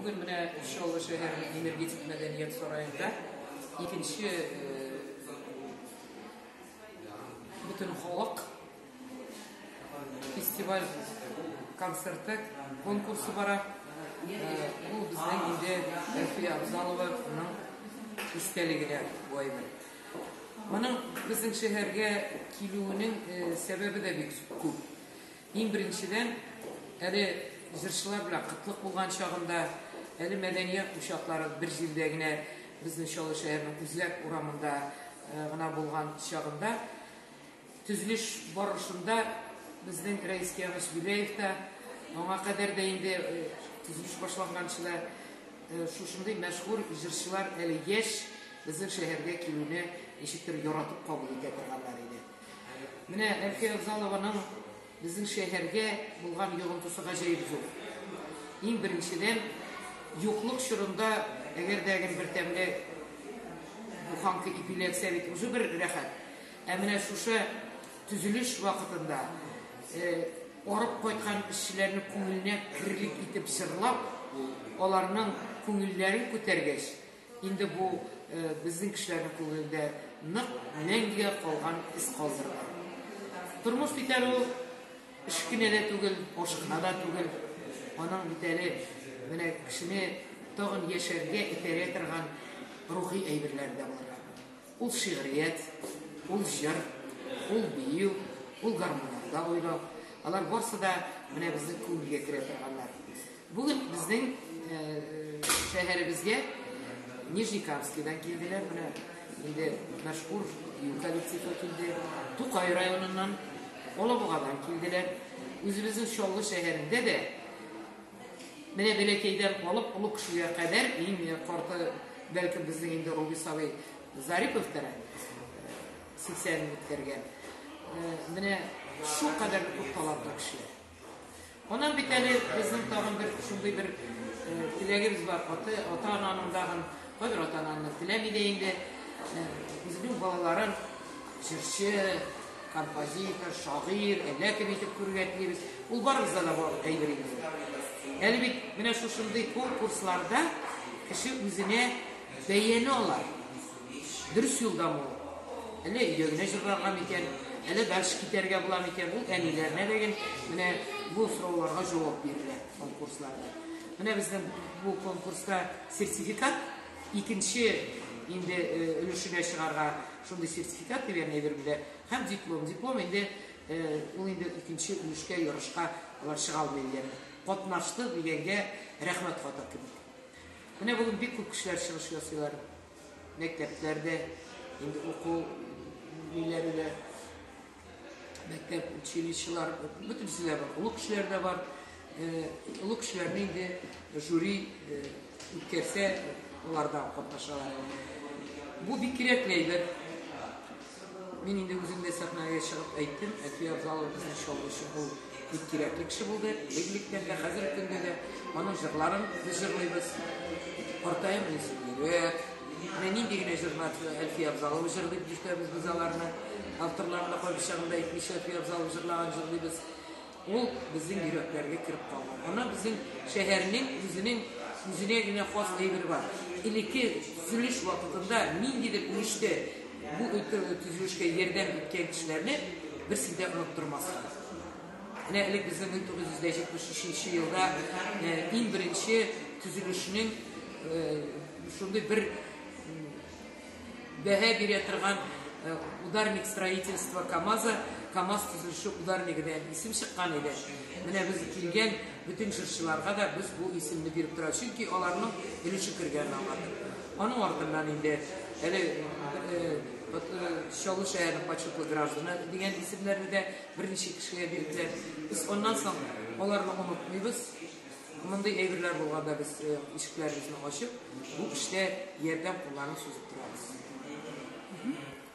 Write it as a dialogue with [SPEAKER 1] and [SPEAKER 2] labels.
[SPEAKER 1] Бүген менә Чаллы шәһәренең энергетик мәдәният сараенда икенче бөтен халык фестиваль концерты конкурсы бара. Бу безнең инде Әлфия Абзалованың истәлегенә бу әйбер. Моның безнең шәһәргә килүенең сәбәбе дә бик күп. Иң беренчедән, әле җырчылар белән кытлык булган чагында, әле мәдәният учаклары бер җирдә генә безнең Чаллы шәһәренең Үзләк урамында гына булган чагында, төзелеш барышында безнең Рәис Киямович Гүләев та, аңа кадәр дә инде төзелеш башланганчы да шушындый мәшһүр җырчылар әле яшь безнең шәһәргә килүне ничектер яратып кабул итә торганнар иде. Менә Әлфия Авзалованың безнең шәһәргә булган йогынтысы гаҗәеп зур. Иң беренчедән, юклык чорында, әгәр дә гел бер тәмле буханка ипиләтсә бит үзе бер рәхәт. Ә менә шушы төзелеш вакытында э, арып кайткан эшчеләрне күңеленә кирлек итеп җырлап, аларның күңелләрен күтәргәч, Инде бу безнең кешеләрнең күңелендә нык мәңгегә калган эз калдырыр. Тормыш бит әле ул эш кенә дә түгел, аш кына да түгел. Аның бит әле менә кешене тагын яшәргә этәрә торган рухи әйберләр дә бар. Ул шигърият, ул җыр, ул бию, ул гармунда уйнау. Алар барысы да менә безнең күңелгә керә торганнар. Бүген безнең э, шәһәребезгә Нижнекамскидан килделәр менә инде мәшһүр бию коллективы килде. Тукай районыннан, Олабугадан килделәр. Үзебезнең Чаллы шәһәрендә дә Менә бәләкәйдән алып олы кешегә кадәр, иң карты, бәлкем, безнең инде Рубис абый Зариповтыр әле, 80 ны үткәргән. Менә шул кадәр күп талантлы кешеләр. Аннан бит әле безнең тагын бер шундый бер теләгебез бар, ата-ананың тагын Кайбер ата-аналар теләми дә инде, үзенең балаларын җырчы, композитор, шагыйрь, әллә кем итеп күрергә телибез. Ул барыбызда да бар әйбер инде. Әле бит менә шушындый конкурсларда кеше үзенә бәяне ала. Дөрес юлда бу. Әллә өйдә генә җырларга микән, әллә дальше китәргә була микән? Ул әниләренә дәген менә бу сорауларга җавап бирелә конкурсларда. Менә безнең бу конкурста Сертификат икенче инде өлешенә чыгарга шундый сертификат дигән әйбер бирә һәм диплом. Диплом инде ул инде икенче өлешкә ярышка алар чыга алмый дигәнне. Катнашты дигәнгә рәхмәт хаты кебек. Менә бүген бик күп кешеләр чыгыш ясыйлар. Мәктәпләрдә инде уку ниләре дә мәктәп училищелар бөтенесе дә бар олы кешеләр дә бар олы кешеләрне инде жюри үткәрсә алар да катнашалар бу бик кирәкле әйбер мин инде үзем дә сәхнәгә чыгып әйттем әти абзалы безнең чалгычы бул Бик кирәкле кеше булды, элек-электән дә, хәзерге көндә дә. Аның җырларын без җырлыйбыз. Картаем менә сибирәк. Менә нинди генә җырлар Әлфия Абзалова җырлый, дип ишетәбез без аларны. Авторларын да кайбер чагында әйтмичә Әлфия Абзалова җырлаган җырлыйбыз. Ул безнең йөрәкләргә кереп калган. Ана безнең шәһәрнең үзенең үзенә генә хас әйбер бар. Элекке төзелеш вакытында ниндидер мичтә Бу өлкәге төзелешкә ярдәм иткән кешеләрне берсе дә оныттырмасын. Менә элек безнең 1973 елда э, иң беренче төзелешнең э, шундый бер бәһә бирә торган э, ударник строительство КАМАЗа КАМАЗ төзелеше ударнигы дигән исем чыккан иде. Менә без килгән бөтен җырчыларга да без бу исемне биреп тора, чөнки аларның өлеше кергән аңа. Аның артыннан инде әле Чаллы шәһәренең почетлы гражданы дигән исемнәрне дә берничә кешегә бирделәр. Без аннан соң аларны онытмыйбыз. Мондый әйберләр булганда без э, ишекләребезне ачып, бу эштә ярдәм кулларын сузып торабыз.